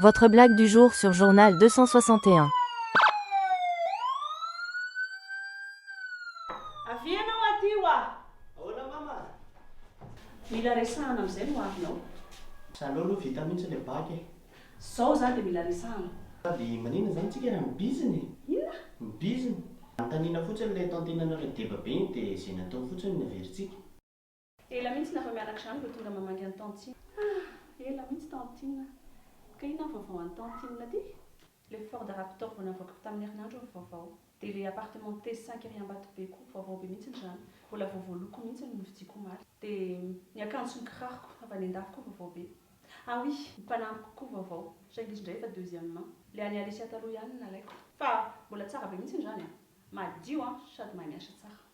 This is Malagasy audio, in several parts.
Votre blague du jour sur journal deux cent soixante et un. Avia ianao aty ho'a! Ahoana mama? Mila resahana amin'izay no avinao. Zaleo aloha vita mihitsy le bac e! Zao za de mila resahana. Avy manina zany tsika raha mibizina e! Inona? Mibizina! Anontaniana fotsiny le tantenanareo deba be iny de zay natao fotsiny no averintsika. Ela mintsy na vao mianaka izany vao tonga mamangy an'i tantine. Ah! Ela mintsy tantine a! Ka inona ny vaovao any tantine ty? Le Ford Raptor vao navoakako tamin'ny herinandro ny vaovao. Dia le appartement T cinq ery Ambatobe koa, vaovao be mintsiny izany. Mbola vaovao loko mintsiny no novidiako omaly. Dia ny akanjo sy ny kiraroko avy any an-dafy koa vaovao be. Ah oui! Ny mpanampiko koa vaovao, saingy izy indray efa deuxième main. Le an'i Alicia taloha ihany no nalaiko. Fa mbola tsara be mintsiny izany a! Madio an! Sady mahay miasa tsara.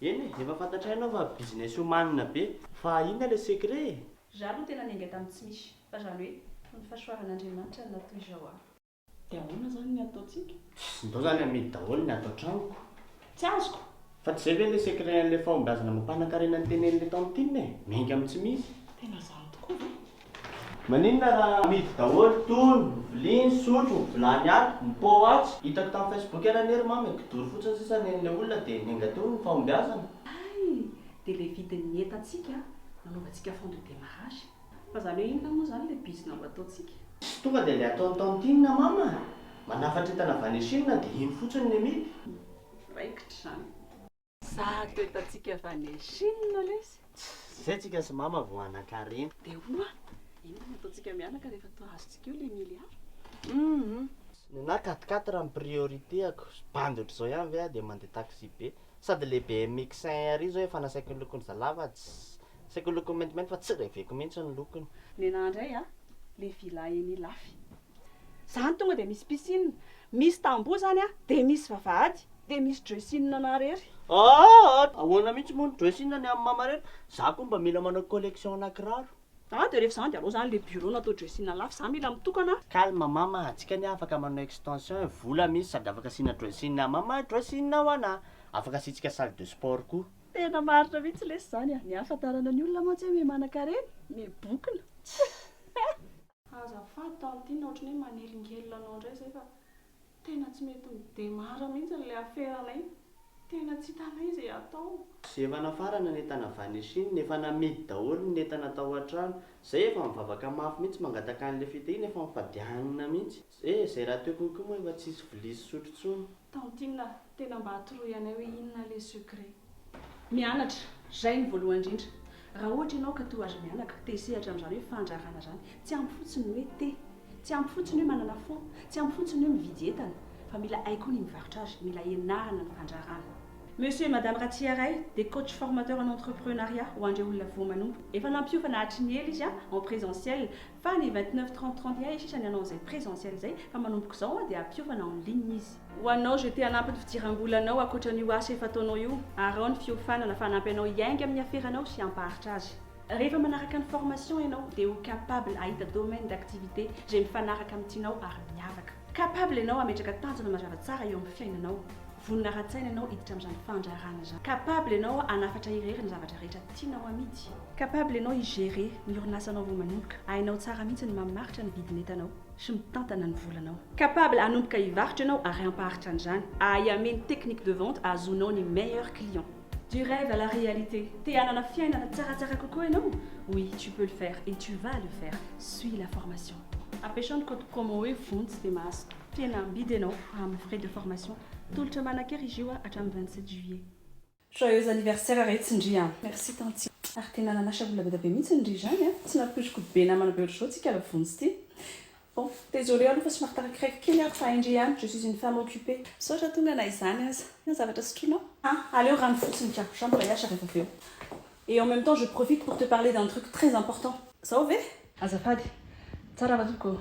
Eny e, dia efa fantatray ianao fa business omanina be, fa inona ilay secret e? Zah aloha tena niainga tamin'ny tsy misy, fa zany hoe fony fahasoavan'Andriamanitra no natoy izao aho. Dia ahoana zany ny ataontsika? Pss, ndao zany amidy daholo ny ato an-tranoko. Tsy azoko! Fa tsy zay ve ilay secret an'ilay fahombiazana amam-panankarena nitenen'ilay tantine e? Miainga amin'ny tsy misy. Tena zany tokoa ve? Maninona raha amidy daholo tony, ny vilia, ny sotro, ny vilany ato, ny pot atsy? Hitako tam facebook ery anie ry mama e, kidoro fotsiny sisa nen'ilay olona dia nenga teo ny fahombiazana. Hay! Dia ilay vidin'ny entantsika nanaovantsika fond de démarrage. Fa izany hoe inona moa izany ilay bizina ho ataontsika? Tsy tonga dia ilay ataon'i tantine mama manafatra entana avy any Chine dia iny fotsiny ny amidy? Raikitra izany. Zato entantsika avy any Chine lesy. Tsy zay tsika sy mama vao hanankarena. Dia ho'a inona no ataontsika mianaka rehefa toa azontsika eo ilay milliard? Hum. Nenahy quatre quatre ny priorité-ako. Bandy ohatr'izao ihany ve aho dia mandeha taxi be. Sady ilay BMX cent R io zao efa nasaiko nolokoina zalahy fa tsy, nasaiko nolokoina maintimainty fa tsy reveko mihitsy ny lokony. Nenahy indray a, ilay villa eny Ilafy. Zany tonga dia misy piscine, misy tamboho zany a, dia misy vavahady, dia misy dressing anah rery. Aa! Ahoana mihitsy moa ny dressing ny amin'i mama rery? Za koa mba mila manao collection ana kiraro. Aa dia rehefa zany dia alao zany le bureau no atao dressing lafo, za mila mitokana a. Calme mama, antsika anie afaka manao extension e, vola misy sady afaka asiana dressing amin'i mama ny dressing ho anah. Afaka asiantsika salle de sport koa. Tena marina mihitsy lesy zany a, ny ahafantarana ny olona mantsy hoe miha manankarena, miha bokona. Tss. Azafady tao amin'ity na ohatran'ny hoe manelingelina anao indray izay fa tena tsy mety midemara mihitsy ilay aferanay. Tena tsy hitanay izay hatao. Izay efa nafarana ny entana avy any Chine, efa namidy daholo ny entana tao an-trano. Izay efa mivavaka mafy mihitsy mangataka an'ilay fitahiana, efa mifadianina mihitsy. Eh, izay rahateo konko moa efa tsisy vilia sy sotro intsony. Tantine ah! Tena mba atoroy anay hoe inona le secret? Mianatra, zay ny voalohany indrindra. Raha ohatra ianao ka toa aza mianaka, te hisehatra amin'izany hoe fandraharana izany, tsy ampy fotsiny ny hoe te, tsy ampy fotsiny hoe manana fo, tsy ampy fotsiny hoe mividy entana, fa mila hay koa ny mivarotra azy, mila ianarana ny fandraharana. Monsieur et Madame Ratsiharay dia coach formateur en entrepreneuriat ho an'ireo olona voa manompo. Efa nampiofana hatry ny ela izy an, en presentiel, Fa ny vingt neuf trente trente iay sisa ny hanao izay presentiel izay fa manomboka izao an dia hampiofana en ligne izy. Ho anao je te hanampy ny fidiram-bolanao ankoatran'io asa efa ataonao io, arao ny fiofanana fa hanampy anao hiainga amin'ny aferanao sy hampaharitra azy. Rehefa manaraka ny formation ianao dia ho capable hahita domaine d'activité izay mifanaraka amin'ny tianao ary miavaka. Capable ianao hametraka tanjona mazava tsara eo amin'ny fiainanao. Vonona ara-tsaina ianao hiditra amin'izany fandraharahana izany. Capable ianao hanafatra irery ny zavatra rehetra tianao hamidy. Capable ianao hi-gérer ny orinasanao vao manomboka. Hainao tsara mihitsy ny mamaritra ny vidin'entanao sy mitantana ny volanao. Capable hanomboka hivarotra ianao ary hampaharitra an'izany. Hahay hameno technique de vente hahazoanao ny meilleurs clients. Du rêve à la réalité, te hanana fiainana tsaratsara kokoa ianao? Oui, tu peux le faire et tu vas le faire. Suis la formation. Apetraho ny code promo hoe vonjy dia mahazo tena amidy ianao amin'ny frais de formation. Tolotra manan-kery izy io hatramin'ny 27 juillet. Joyeux anniversaire Retsy ndry a. Merci tantine. Ary tena nanasa olona be dia be mihitsy ndry izany a. Tsy nampoiziko be namana be ohatr'izao tsika la vonjy ity. Ouf, désolée aloha fa somary tarakireiko kely aho fa indry ihany, je suis une femme occupée. Misaotra tonga na izany aza. Ny zavatra sotroinao? Ah, aleo rano fotsiny ka, jean mbola hiasa rehefa avy eo. Et en même temps je profite pour te parler d'un truc très important. Zao ve? Azafady. Tsara va tompoko?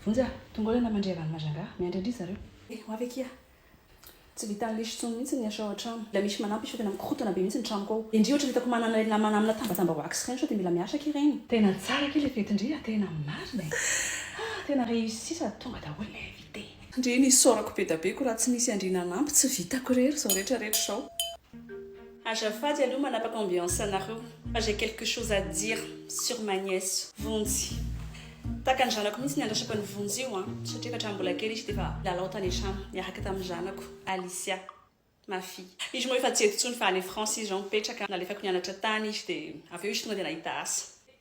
Vonjy a! Tongolana mandria rano Majanga, miandry an-dry zareo. Eh, ho avy akia. Tsy vitan'i Lisy intsony mihitsy ny asa ao an-trano. Mbola misy manampy sao tena mikorontana be mihitsy ny tranoko ao. Indry ohatra ny hitako manana ireny namana amina tambajamba ho axe ireny sao dia mila miasa aky ireny. Tena tsara aky ilay fety ndry a! Tena marina e! Ah! Tena réussi sady tonga daholo ny invité. Ndry nisaorako bedabeko raha tsy nisy an-dry nanampy, tsy vitako irery izao rehetra rehetra izao. Azafady aloha manapaka ambiance anareo fa j'ai quelque chose à dire sur ma nièce Vonjy. Tahaka ny zanako mihitsy ny andrasako an'i Vonjy io an, satria efa hatramin'ny mbola kely izy dia efa nilalao tany an-trano niaraka tamin'ny zanako Alicia, ma fille. Izy moa efa tsy eto intsony fa any France izy izao mipetraka, nalefako nianatra tany izy dia avy eo izy tonga dia nahita asa.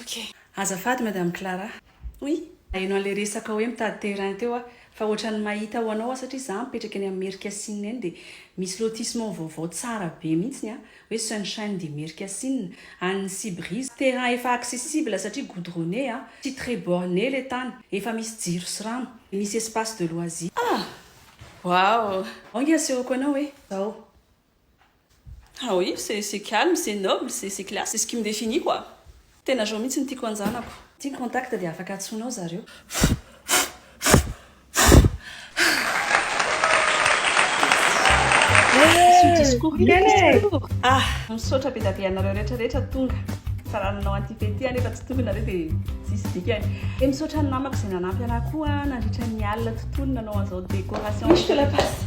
Ok. Azafady Madame Clara. Oui. Naheno an'ilay resaka hoe mitady terrain teo aho, fa ohatran'ny mahita ho anao aho satria izaho mipetraka eny amin'ny Merikasinina eny dia misy lotissement vaovao tsara be mihitsy ny hoe Sunshine de Merikasinina, an'ny Sea Breeze, terrain efa accessible satria goudronné a, tsy très borné ilay tany, efa misy jiro sy rano, dia misy espace de loisir. Ah! Waouh! Ao nge asehoko anao hoe izao. Ah oui, c'est c'est calme, c'est noble, c'est c'est classe, c'est ce qui me définit quoi! Tena zao mihitsy no tiako hanjanako. Ity ny contact dia afaka antsoinao zareo. Ah! Misaotra be dia be anareo rehetra rehetra tonga fa raha nanao an'ity fety ity aho nefa tsy tonga nareo dia tsisy dikany. Dia misaotra ny namako izay nanampy anah koa nandritra ny alina tontolo nanao an'izao décoration. Oui, je te la passe.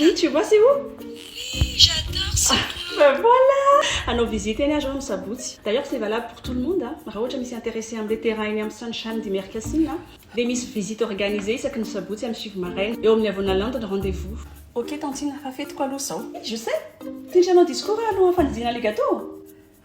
Oui tu vois c'est où? Oui j'adore ce coin. Ben voilà! Hanao visite eny aho zao am sabotsy. D'ailleurs c'est valable pour tout le monde a, raha ohatra misy intéressé amle terrain eny am sunshine de Mercasin a dia misy visite organisée isaky ny sabotsy am sivy maraina eo amin'ny Avona Land ny rendez vous. Ok tantine fa fetiko aloha zao. Je sais! Tsy nisy hanao discours aho alohan'ny fandidiana le gateau?